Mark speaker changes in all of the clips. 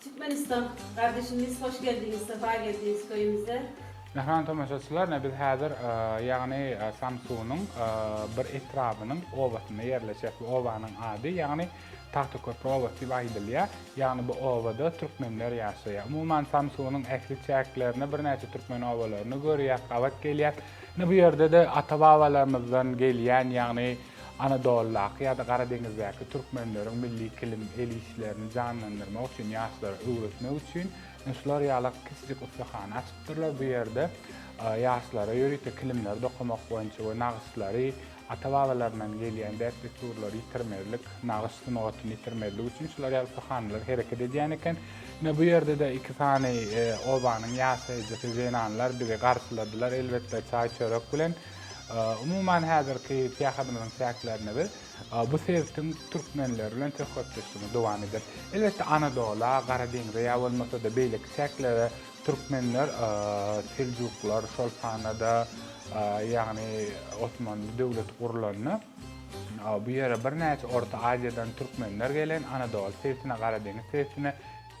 Speaker 1: Türkmenistan gardeşimiz hoş geldiňiz sefa geldiňiz köyümüze. Mähriban
Speaker 2: tomaşaçylar ine biz häzir ýagny Samsunyň bir etrabynyň obasynda ýerleşýäs. Bu obanyň ady ýagny Tagtaköprü obasy diýip aýdylýar. Ýagny bu obada türkmenler ýaşaýar. Umuman Samsunyň ähli çäklerinde birnäçe türkmen obalaryny görýäs, gabat gelýäs. Ine bu ýerde-de ata-babalarymyzdan gelýän ýagny Anadolydaky ýa-da Gara deňizdäki türkmenleriň milli kilim el işlerini janlandyrmak üçin, ýaşlara öwretmek üçin şular ýaly kiçijik ussahana açypdyrlar. Bu ýerde ýaşlara ýörite kilimleri dokamak boýunça we nagyşlary, ata-babalaryndan gelýän däp-dessurlary ýitirmezlik, nagyş sungatyny ýitirmezlik üçin şular ýaly ussahanalar hereket edýän eken. Ine, bu ýerde-de iki sany obanyň ýaşaýjysy, zenanlar bizi garşyladylar, elbetde, çaý-çörek bilen. Umuman, häzirki syýahadymyzyň çäklerinde biz bu sebitiň türkmenleri bilen söhbetdeşligimizi dowam ederis. Elbetde, Anadola, Gara deňze ýa bolmasa-da beýleki çäklere türkmenler, seljuklar, şol sanda-da, ýagny Osmanly döwleti gurlanda, bu ýere birnäçe Orta Aziýadan türkmenler gelen, Anadola sebitine, Gara deňiz sebitine,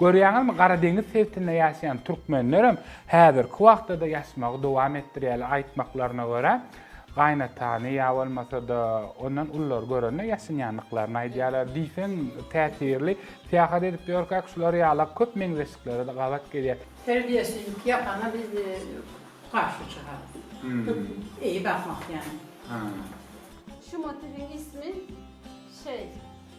Speaker 2: Görýäňizmi, Gara deňiz sebitinde ýaşaýan türkmenlerem häzirki wagtda-da ýaşmagy dowam etdirýärler. Aýtmaklaryna görä, gaýynatany ýa bolmasa-da ondan ululary görende ýaşynýandyklaryny aýdýarlar. Diýseň täsirli. Syýahat edip ýörkäk şular ýala köp meňzeşlikleri-de gabat gelýär. Terbiýeçilik ýapana biz garşy çykarys.
Speaker 3: Eý bakmak ýaly. Şu
Speaker 1: motiwiň ismi şeý.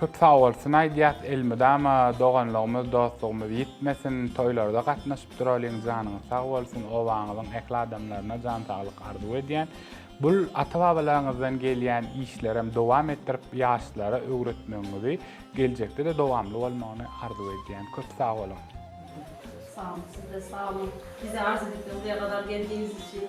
Speaker 2: Köp sagbolsun aýdýas elmydama doganlygymyz dostlugymyz ýitmesin toýlarda gatnaşyp duralyň janyňyz sag bolsun obaňyzyň ähli adamlaryna jan saglyk arzuw edýän bul ata babalaryňyzdan gelýän işlerem dowam etdirip ýaşlara öwretmegiňizi geljekdede dowamly bolmagyny arzuw edýän köp sag boluň. Köp sag boluň sizde sag boluň
Speaker 1: bizi arz edip de buraya kadar geldigiňiz üçin.